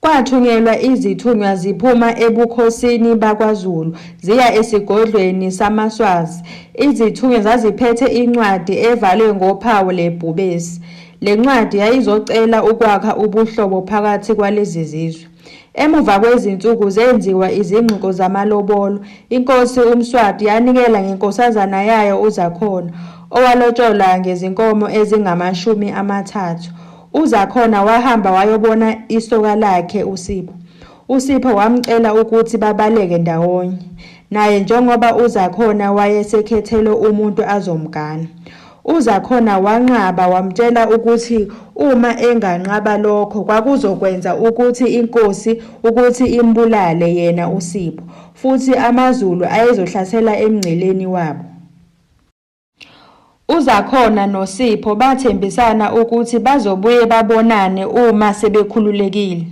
Kwathunyelwa izithunywa ziphuma ebukhosini bakwaZulu ziya esigodlweni samaSwazi. Izithunywa zaziphethe incwadi evalwe ngophawu lebhubesi. Le ncwadi yayizocela ukwakha ubuhlobo phakathi kwalezi zizwe. Emuva kwezinsuku zenziwa izingxoxo zamalobolo. Inkosi uMswati yanikela ngenkosazana yayo uZakhona, owalotsholwa ngezinkomo ezingamashumi amathathu. UZakhona wahamba wayobona isoka lakhe uSipho. USipho wamcela ukuthi babaleke ndawonye naye njengoba uZakhona wayesekhethelwe umuntu azomgana. UZakhona wanqaba wamtshela ukuthi uma enganqaba lokho kwakuzokwenza ukuthi inkosi ukuthi imbulale yena uSipho futhi amaZulu ayezohlasela emngceleni wabo. UZakhona noSipho bathembisana ukuthi bazobuye babonane uma sebekhululekile.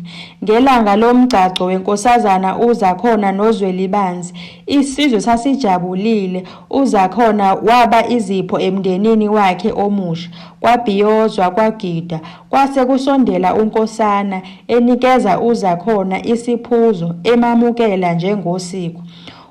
Ngelanga lomgcagco weNkosazana uZakhona noZwelibanzi, isizwe sasijabulile. UZakhona waba izipho emndenini wakhe omusha. Kwabhiyozwa, kwagida. Kwase kusondela uNkosana, enikeza uZakhona isiphuzo, emamukela njengosiko.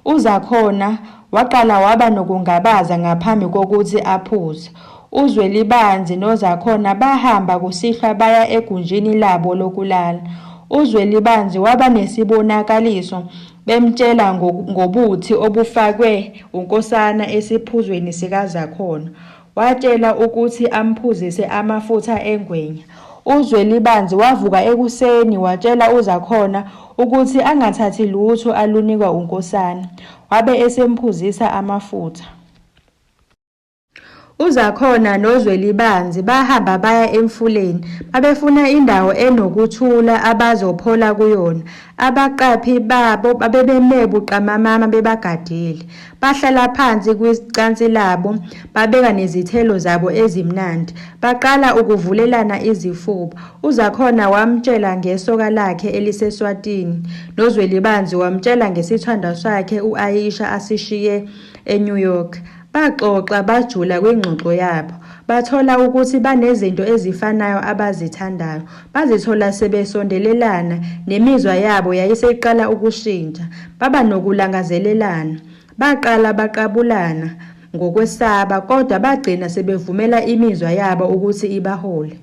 UZakhona Waqala waba nokungabaza ngaphambi kokuthi aphuze. UZwelibanzi noZakhona bahamba kusihlwa baya egunjini labo lokulala. UZwelibanzi waba nesibonakaliso bemtshela ngobuthi obufakwe uNkosana esiphuzweni sikaZakhona. Watshela ukuthi amphuzise amafutha engwenya. UZwelibanzi wavuka ekuseni watshela uZakhona ukuthi angathathi lutho alunikwa uNkosana, wabe esemphuzisa amafutha. UZakhona noZwelibanzi bahamba baya emfuleni. Babefuna indawo enokuthula abazophola kuyona. Abaqaphi babo babebeme buqamamama bebagadile. Bahlala phansi kwicansi labo, babeka nezithelo zabo ezimnandi. Baqala ukuvulelana izifuba. UZakhona wamtshela ngesoka lakhe eliseSwatini, noZwelibanzi wamtshela ngesithandwa sakhe u-Ayisha asishiye eNew York. Baxoxa bajula kwingxoxo yabo. Bathola ukuthi banezinto ezifanayo abazithandayo. Bazithola sebesondelelana, nemizwa yabo yayiseyiqala ukushintsha. Baba nokulangazelelana. Baqala baqabulana ngokwesaba, kodwa bagcina sebevumela imizwa yabo ukuthi ibahole.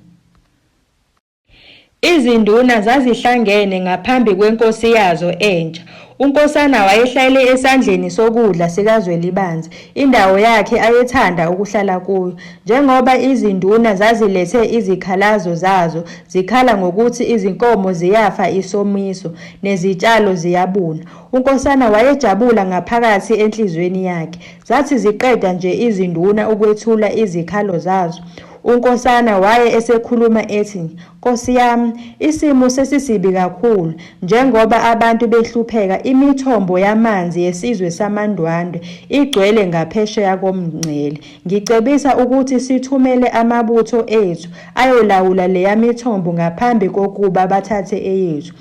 Izinduna zazihlangene ngaphambi kwenkosi yazo entsha UNkosana wayehlalele esandleni sokudla sikaZwelibanzi, indawo yakhe ayethanda ukuhlala kuyo, njengoba izinduna zazilethe izikhalazo zazo zikhala ngokuthi izinkomo ziyafa isomiso, nezitshalo ziyabuna. UNkosana wayejabula ngaphakathi enhliziyweni yakhe. Zathi ziqeda nje izinduna ukwethula izikhalo zazo, uNkosana waye esekhuluma ethi, Nkosi yam isimo sesisibi kakhulu njengoba abantu behlupheka imithombo yamanzi yesizwe samaNdwandwe igcwele ngaphesheya komngcele ngicebisa ukuthi sithumele amabutho ethu ayolawula leyamithombo ngaphambi kokuba bathathe eyethu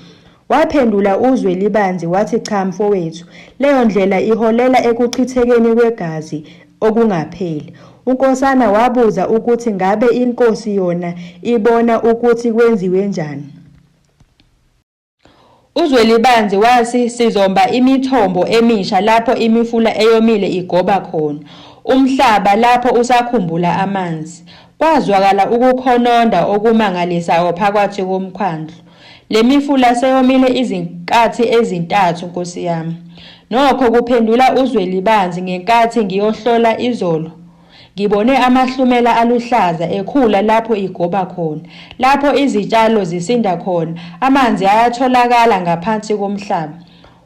Waphendula uZwelibanzi wathi cha mfowethu, leyo ndlela iholela ekuchithekeni kwegazi okungapheli. UNkosana wabuza ukuthi ngabe inkosi yona ibona ukuthi kwenziwe njani. UZwelibanzi wathi sizomba imithombo emisha lapho imifula eyomile igoba khona, umhlaba lapho usakhumbula amanzi. Kwazwakala ukukhononda okumangalisa-o phakathi komkhandlu. Le mifula seyomile izinkathi ezintathu nkosi yami. Nokho kuphendula uZwelibanzi ngenkathi ngiyohlola izolo ngibone amahlumela aluhlaza ekhula lapho igoba khona. Lapho izitshalo zisinda khona, amanzi ayatholakala ngaphansi komhlaba.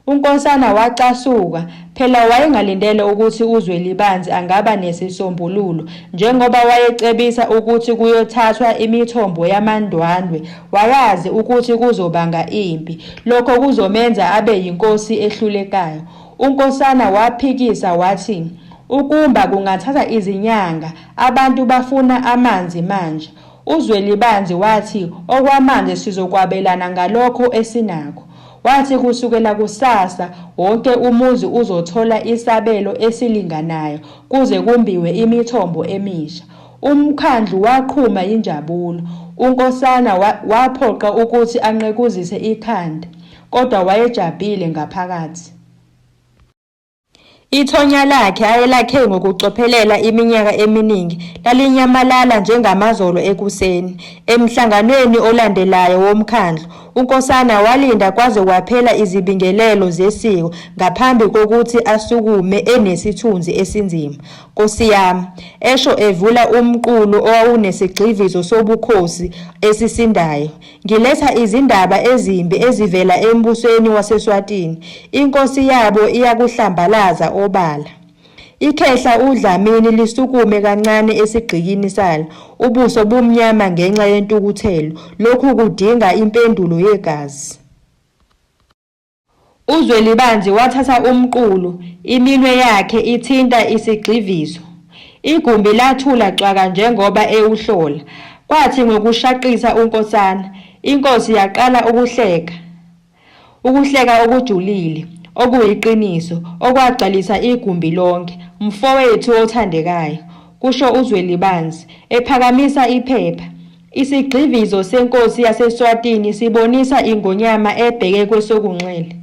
UNkosana wacasuka. Phela wayengalindele ukuthi uZwelibanzi angaba nesisombululo. Njengoba wayecebisa ukuthi kuyothathwa imithombo yamaNdwandwe, wayazi ukuthi kuzobanga impi. Lokho kuzomenza abe yinkosi ehlulekayo. UNkosana waphikisa wathi, Ukumba kungathatha izinyanga, abantu bafuna amanzi manje. UZwelibanzi wathi, Okwamanzi sizokwabelana ngalokho esinakho. Wathi kusukela kusasa wonke umuzi uzothola isabelo esilinganayo kuze kumbiwe imithombo emisha. Umkhandlu waqhuma yinjabulo. UNkosana waphoqa ukuthi anqekuzise ikhanda kodwa wayejabhile ngaphakathi. Ithonya lakhe ayelakhe ngokucophelela iminyaka eminingi lalinyamalala njengamazolo ekuseni. Emhlanganweni olandelayo womkhandlu, uNkosana walinda kwaze kwaphela izibingelelo zesiko ngaphambi kokuthi asukume enesithunzi esinzima. Nkosi yami, esho evula umqulu owawunesigxivizo sobukhosi esisindayo. Ngiletha izindaba ezimbi ezivela embusweni waseSwatini, inkosi yabo iyakuhlambalaza obala. Ikhehla uDlamini lisukume kancane esigqikini salo, ubuso bumnyama ngenxa yentukuthelo, lokhu kudinga impendulo yegazi. UZwelibanzi wathatha umqulu, iminwe yakhe ithinta isigxivizo. Igumbi lathula cwaka njengoba ewuhlola. Kwathi ngokushaqisa uNkosana, inkosi yaqala ukuhleka. Ukuhleka okujulile, okuyiqiniso, okwagcwalisa igumbi lonke. Mfowethu othandekayo, kusho uZwelibanzi, ephakamisa iphepha, Isigxivizo senkosi yaseSwatini sibonisa ingonyama ebheke kwesokunxele.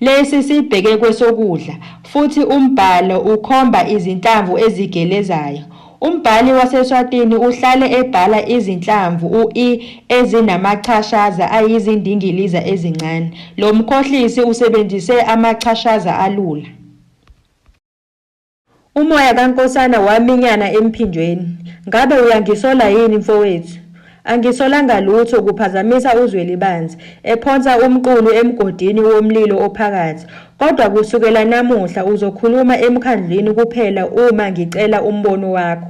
Lesi sibheke kwesokudla, futhi umbhalo ukhomba izinhlamvu ezigelezayo. Umbhali waseSwatini uhlale ebhala izinhlamvu u-i ezinamachashaza ayizindingiliza ezincane. Lo mkhohlisi usebenzise amachashaza alula. Umoya kaNkosana waminyana emphinjweni. Ngabe uyangisola yini mfowethu? Angisolanga lutho, kuphazamisa uZwelibanzi, ephonsa umqulu emgodini womlilo ophakathi. Kodwa kusukela namuhla uzokhuluma emkhandlwini kuphela uma ngicela umbono wakho.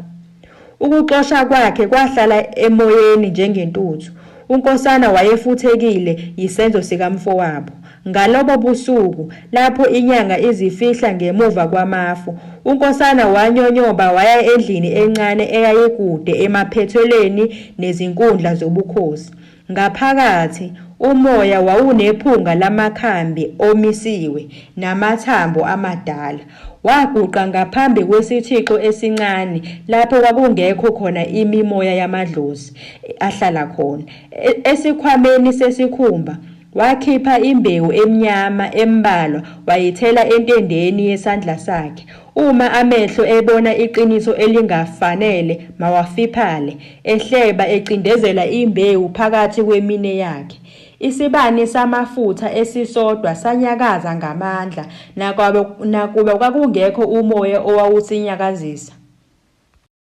Ukuxosha kwakhe kwahlala emoyeni njengentuthu. UNkosana wayefuthekile yisenzo sikamfowabo. Ngalobo busuku, lapho inyanga izifihla ngemuva kwamafu, uNkosana wanyonyoba waya endlini encane eyayikude emaphethelweni nezinkundla zobukhosi. Ngaphakathi, umoya wawunephunga lamakhambi omisiwe namathambo amadala. Waguqa ngaphambi kwesithixo esincane lapho kwakungekho khona imimoya yamadlozi ahlala khona. E, esikhwameni sesikhumba, wakhipha imbewu emnyama embalwa wayithela entendeni yesandla sakhe. Uma amehlo ebona iqiniso elingafanele, mawafiphale, ehleba, ecindezela imbewu phakathi kweminwe yakhe. Isibani samafutha esisodwa sanyakaza ngamandla, nakuba, nakuba kwakungekho umoya owawusinyakazisa.